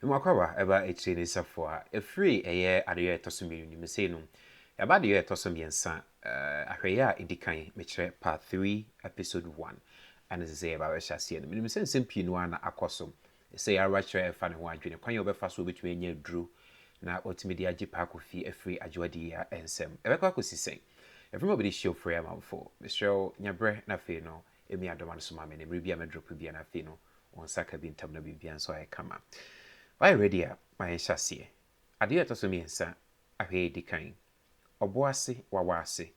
Mmoakɔawa ɛba akyire ne safoa. Ɛfiri ɛyɛ adeyɔ a ɛtɔ so mmienu no mu. Sei no, yɛaba adeyɔ a ɛtɔ so mmiɛnsa. Ahwɛeɛ a ɛdi kan, mekyerɛ, Part Three, Episode One, ɛna ɛsɛ sɛ yɛba bɛhyɛ aseɛ no. Menim sɛ nsɛm pii no ara na akɔ so. Ɛsɛ yɛn ara kyerɛ ɛfa ne ho adwene, kwan a ɔbɛfa so a ɔbɛtumi anya aduro na watumi de agye Paakofi afiri Adwoa Diyia nsam. Ɛbɛkɔ akɔsi sɛn? Yɛfrɛ mo abɛdi Hyiofre amanfoɔ. Mesrɛ wo, nya berɛ na afei no, Emi adom ano soma me ne mmere bi a mɛ drop bi a na afei no wɔn nsa ka bi ntam na biribiara nso ayɛ kama. Wayɛ ready a ma yɛn hyɛ aseɛ. Adeɛ a ɛtɔ so mmiɛnsa ahwɛ edi kan ɔbo ase wawa ase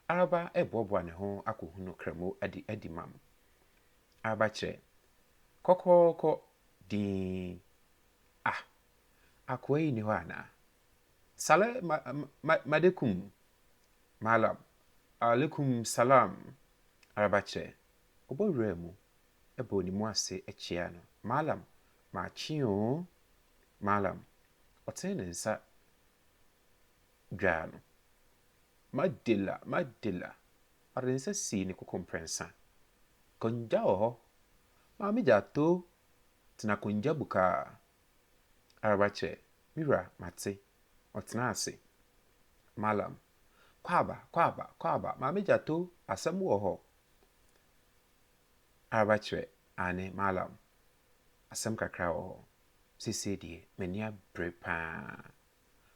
Araba reboaboa ne ho akɔ hunu Kramo adi adi mam Araba kyerɛ kɔkɔɔkɔ dinn ah akoa yi nni hɔ anaa Saleh ma ma madekum Malam Alaikum Salam Arabakyerɛ ɔbɔ wuraa mu bɔɔ ne mu ase kyeaa no Malam makye oo Malam ɔtene ne nsa dwaa no Madela Madela ɔde ne nsa sii ne koko mprɛnsa Kongya wɔ hɔ Maame Gyato tena kongya bukaa Araba kyerɛ, Me wura, mate. Ɔtenaa ase. Malam, Kɔ aba, kɔ aba, kɔ aba, Maame Gyato, asɛm wɔ hɔ. Araba kyerɛ, Aane, Malam, asɛm kakra wɔ hɔ. Seesei deɛ, m'ani abere pa ara.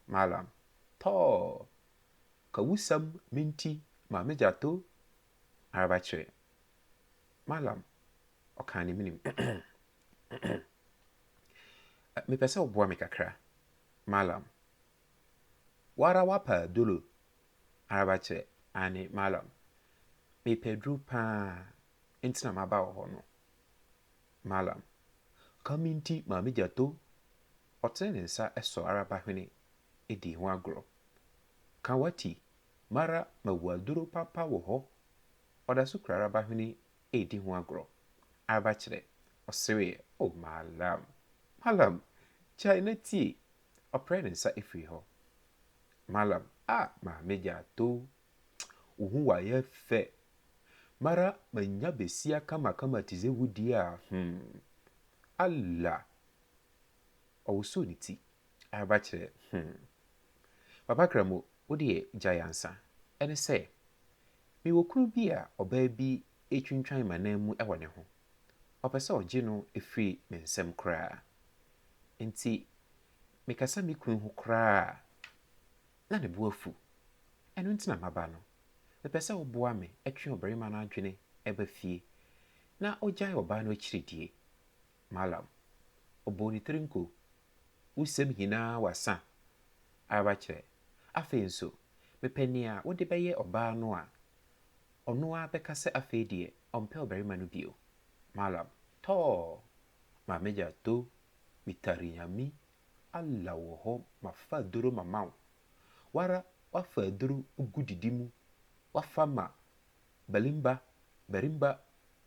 Malam, Tɔɔ! Ka wusɛm menti, Maame Gyato. Araba kyerɛ, Malam, ɔkaa ne menim. Mepɛ sɛ woboa me kakra, Mallam. Woara woapa aduro araba kyerɛ? Aane, Mallam. Mepɛ aduro paa nti na maba wo hɔ no, Mallam. Ka me nti Maame Gyato ɔtene ne nsa sɔ araba hwene di ho agorɔ. Ka wati, mara mawu aduro papa wɔ hɔ. Ɔda so kura araba hwene redi ho agorɔ. Araba kyerɛ, ɔsereeɛ, Oh Mallam! Mallam! Gyae na tie! Ɔprɛɛ ne nsa firii hɔ. Mallam, Ah Maame Gyaato! Wo ho wayɛ fɛ! Mara manya besia kamakama te sɛ wo deɛ a, hmm! Allah! Ɔwosoo ne ti. Araba kyerɛ hmm. Papa Kramo wo deɛ gyae ansa. Ɛne sɛ, me wɔ kunu bi a ɔbaa bi retwintwan m'anan mu wɔ ne ho. Ɔpɛ sɛ ɔgye no firi me nsam koraa. Nti me kasa me kunu ho koraa a, na ne bo afu. Ɛno nti na maba no. Me pɛ sɛ wo boa me twe ɔbarima no adwene ba fie na ɔgyae ɔbaa no akyiridie. Malam, ɔbɔɔ ne tiri nko, Wo sɛm hinaa w'asa ara kyerɛ. Afei nso, mepɛ nea wode bɛyɛ ɔbaa no a ɔno ara bɛka sɛ afei deɛ ɔmpɛ ɔbarima no bio. Malam, tɔɔ! Ma me gya to me tari Nyame Allah wɔ hɔ mafa aduro mama wo, wo ara woafa aduro gu didi mu, woafa ma Balimba, Barimba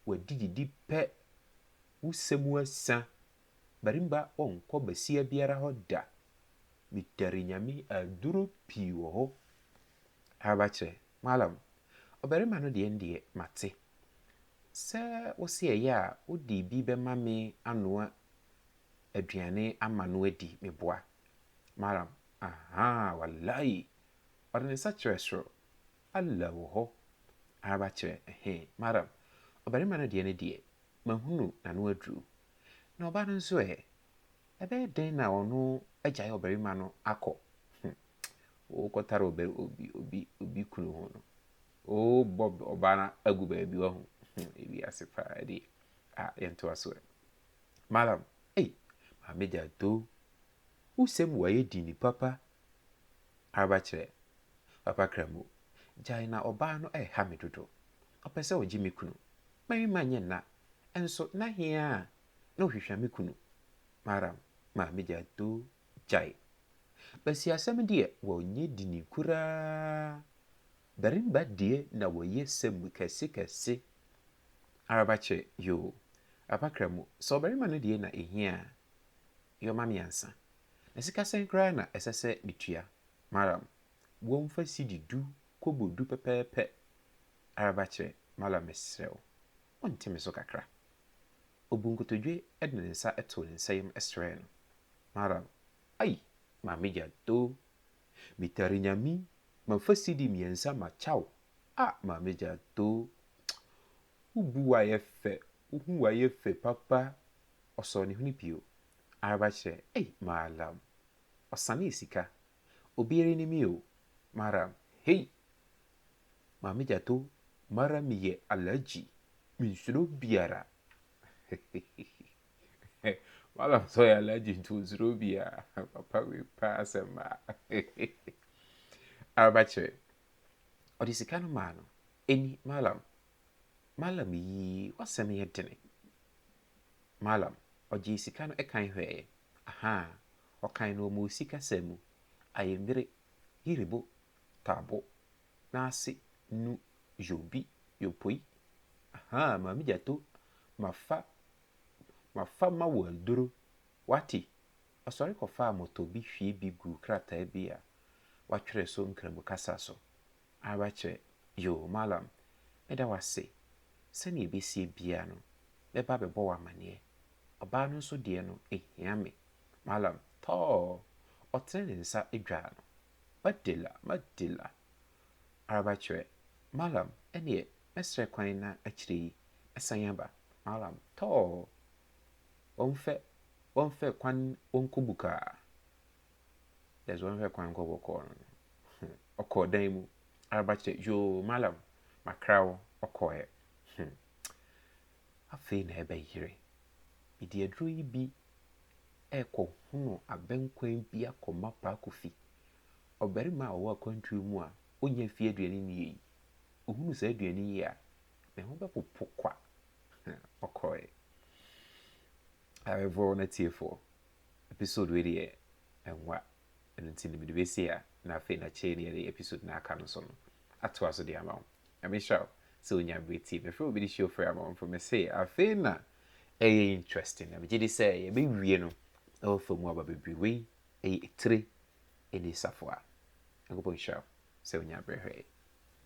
w'adi didi pɛ, wo sɛ mu asã, Barimba wɔnkɔ basia biara hɔ da, Mitare Nyame aduro pii wɔ hɔ, Araba kyerɛ, Malam, ɔbarima no deɛ ndeɛ mate, sɛ wo se ɛyɛ a wo de bi bɛma me anoa aduane ama no adi, me boa? Malam, Ahaa, walayi, ɔde ne nsa kyerɛ soro. Allah wɔ hɔ ara kyerɛ ɛhe? Maram, ɔbarima no deɛ no deɛ, mahunu n'ano aduru. Na ɔbaa no nso ɛ? Ɛbɛyɛ dɛn na ɔno agyae ɔbarima no akɔ? Hum! Wokɔtare ɔba, obi, obi, obi kunu ho no, wobɔ ɔbaa no agu baabi, wahu? Hum! Ewiase paa ɛdeɛ. Ah, yɛntoa so ɛ? Maram, ei, Maame Jadoo, wo sɛm wayɛ dini papa, Araba kyerɛ, Papa Kramu, gyae na ɔbaa no ɛreha me dodo. Ɔpɛ sɛ ɔgye me kunu. Marima nyɛ nna, nso na he ara na ɔhwehwa me kunu? Maram, Maame Gyado, gyae. Basiasɛm deɛ wɔnyɛ dini koraa. Barimba deɛ na wɔyɛ sɛm kɛse kɛse. Araba kyerɛ, Yoo, Papa Kramu, sɛ ɔbarima no deɛ na ehia a, Yoma mmiɛnsa. Na sika sɛn koraa na ɛsɛ sɛ metua? Malam, Boa mu fa sidi du kobo du pɛpɛɛpɛ ara ba kyerɛ. Malam, Mesrɛ wo, wonte me so kakra? Ɔbuu nkotodwe de ne nsa too ne nsa yam srɛɛ no. Malam, Ai! Maame Gyado, metare Nyame, mamfa sidi mmiɛnsa makya wo. Ah! Maame Gyado, wo bu wo ayɛ fɛ Wo hu wayɛ fɛ papa Ɔsɔɔ ne hwene pio Araba kyerɛ ei maalam Ɔsanee sika Obiara anim me o Maram hei Maame Gyato Mara me yɛ Alagyi Me nsuro obiara Hehehehe Malam sɛ ɔyɛ Alagyi nti ɔnsuro obiara Papa wei paa asɛm maa Hehehehe Araba kyerɛ Ɔde sika no maa no Ɛni maalam Mallam yi w'asɛm yɛ dene. Mallam ɔgyee sika no ɛkan hwɛɛ, ahaa, ɔkan no ɔmoo sika sɛn mu, ayemire, yiribo, taabo, naase, nu, yobi, yopoi, ahaa, maame gyato, mafa, mafa ma wo aduro, w'ate, ɔsɔre kɔfaa mɔtɔ bi hwie bi guu krataa bi a w'atwerɛ so nkramu kasa so, Ara kyɛ, Yoo Mallam, meda wo ase. Sɛnea ebesie biara no, mɛba abɛbɔ wo amanneɛ. Ɔbaa no nso deɛ no, ehia me. Mallam, Tɔɔ! Ɔtene ne nsa dwaa no. Madela! Madela! Ara kyerɛ, Mallam, ɛnneɛ mɛsrɛ kwan na akyire yi mɛsan aba. Mallam, Tɔɔ! Wɔmfɛ, wɔmfɛ kwan wɔnkɔ bukaa. Dɛ dza ɔnnhwɛ kwan nkɔ bɔkɔɔ no no, hmm, ɔkɔɔ dan mu ara bɛkyerɛ, yoo, Mallam, makra wo, ɔkɔɔɛ, hmm, afei na ɛbɛyere. Mede aduro yi bi rekɔhono abɛnkwan bi akɔma Paa Kofi, ɔbarima a ɔwɔ akwantuo mu a ɔnnya mfii aduane nnie yi. Ɔhunu saa aduane yi a, ne ho bɛpopo kwa. Ɔkɔɔɛ. Awɛfoɔ na atiefoɔ. episode wei deɛ ɛnwa ɛno nti no mede bɛsi ha na afei na kyɛe na yɛde episode na aka no so no atoa so de ama wo Nyame nhyira wo sɛ wonya mmerɛ tie mefrɛ obi de hyɛ ofiri ama wo mfo mese afei na ɛyɛ interesting na megye di sɛ yɛbɛwie no ɛwɔ fa mu aba bebree wei ɛyɛ etire ɛni safoa Nyankopɔn nhyira wo sɛ wonya mmerɛ hwɛe